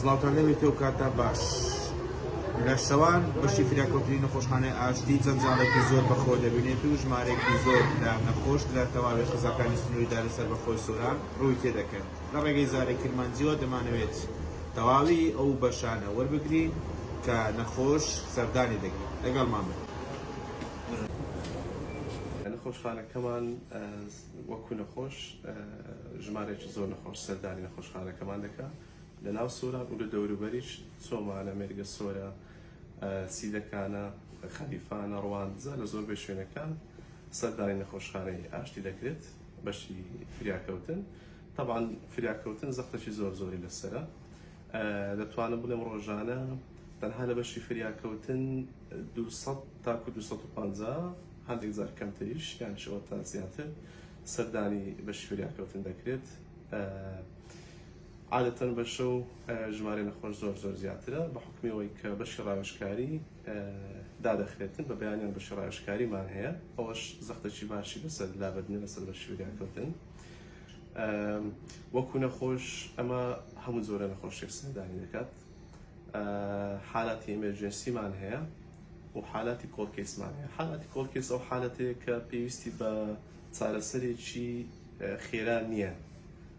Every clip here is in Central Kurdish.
سڵاوتان لێ بێت و کاتان باش. لە شەوان بەشی فریاکەوتنی نەخۆشخانەی ئاشتی جەنجاڵێکی زۆر بەخۆ دەبینێت و ژمارێکی زۆر لە نەخۆش لە تەواوی قەزاکانی سنووری دارە سەربەخۆی سۆران ڕووی تێدەکەن. لە ڕێگەی زاری کرمانجییەوە دەمانەوێت تەواوی ئەو بەشانە وەربگرین کە نەخۆش سەردانی دەکەن. لەگەڵمان بن. نەخۆشخانەکەمان وەکو نەخۆش ژمارێکی زۆر نەخۆش سەردانی نەخۆشخانەکەمان دەکات. لە ناو سۆران و لە دەوروبەریش چۆمانە، مێرگە سۆرە، سیدەکانە، خەلیفانە، ڕواندزە لە زۆربەی شوێنەکان سەردانی نەخۆشخانەی ئاشتی دەکرێت بەشی فریاکەوتن تەبان فریاکەوتن زەختەکی زۆر زۆری لەسرە دەتوانم بڵێم ڕۆژانە تەنها لە بەشی فریاکەوتن 200 تاکو 250 هەندێک زار کەمتریش یان شەوە تا زیاتر سەردانی بەشی فریاکەوتن دەکرێت. عادەتەن بە شەو ژمارەی نەخۆش زۆر زۆر زیاترە بە حکومی ئەوەی کە بەشی ڕاوێژکاری دادەخرێتن بە بەیانیان بەشی ڕاوێژکاریمان هەیە ئەوەش زەختەکی باشی لەسەر لابردنە لەسەر بەشی وریاکەوتن وەکو نەخۆش ئەمە هەموو زۆرە نەخۆشێک سەردانی دەکات حالاتی ئەمەرجنسیمان هەیە و حالاتی کۆڵکەسمان هەیە حالاتی کۆڵکەس ئەو حالەتەیە کە پێویستی بە چارەسەرێکی خێرا نییە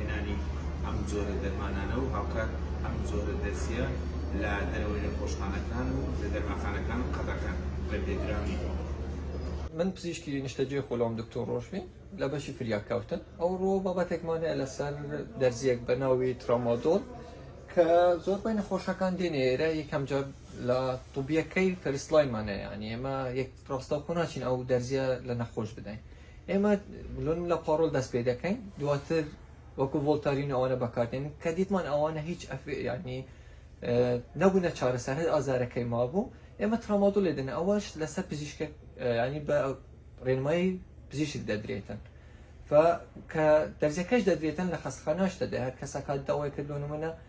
هێنانی ئەم جۆرە دەرمانانە و هاوکات ئەم جۆرە دەرزییە لە دەرەوەی نەخۆشخانەکان و لە دەرمانخانەکان قەدەغەن بە بێدراوی. من پزیشکی نیشتەجێی خۆلام دکتۆر ڕۆژبین لە بەشی فریاکەوتن، ئەوڕۆ بابەتێکمان هەیە لەسەر دەرزییەک بە ناوی ترامادۆل کە زۆربەی نەخۆشەکان دێنێ ئێرە یەکەم جار لە طوبیەکەی فەرست لاینمان هەیە یانی ئێمە یەک ڕاستەوخۆ ناچین ئەو دەرزییە لە نەخۆش بدەین ئێمە بلۆنیم لە پاڕۆل دەست پێ دەکەین دواتر وەکو ڤۆلتارین ئەوانە بەکاردێن کە دیتمان ئەوانە هیچ ئەفێیانی نەبوونە چارەسەر هەر ئازارەکەی مابوو ئێمە ترامادۆ لێدن ئەوەش لەسەر پزیشکە ینی بە ڕێنمای پزیشک دەدرێتن کە دەرزەکەش دەدرێتن لە خەستخاناش دەدە هەر کەسەکە داوای کردوونمە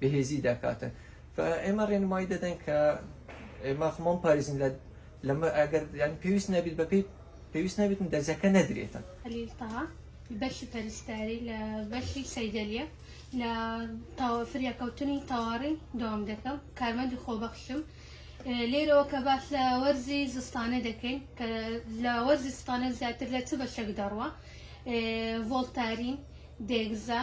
بەهێزی دەکاتن ئێمە ڕێنمایی دەدەن کە ئێمە خمۆم پارێزین لە لەمە ئەگەر یان پێویست نەبیت بەپی پێویست نەبیتن دەرزەکە نەدرێتن هەلیلتەها بەشی پەرستاری لە بەشی سەیدەلیە لە فریاکەوتنی تەواڕی دام دەکەم کارمەندی خۆبەخشم لێرەوە کە باس لە وەرزی زستانە دەکەین کە لە وەرزی ستانە زیاتر لە چ بەشێک دەڕوە ڤۆلتارین دێگزا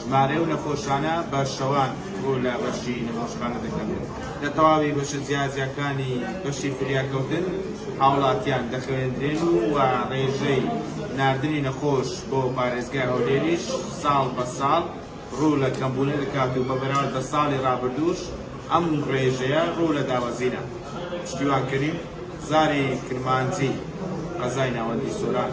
ژمارەی ئەو نەخۆشانە بە شەوان ڕوو لە بەشی نەخۆشخانە دەکەن و لە تەواوی بەشە جیاجیاکانی بەشی فریاکەوتن هاوڵاتیان دەخەوێندرێن و ڕێژەی ناردنی نەخۆش بۆ پارێزگای هەولێریش ساڵ بە ساڵ ڕوو لە کەمبوونە دەکات و بە بەراورد بە ساڵی ڕابردووش ئەم ڕێژەیە ڕوو لە دابەزینە. پشتیوان کەریم، زاری کرمانجی، قەزای ناوەندی سۆران.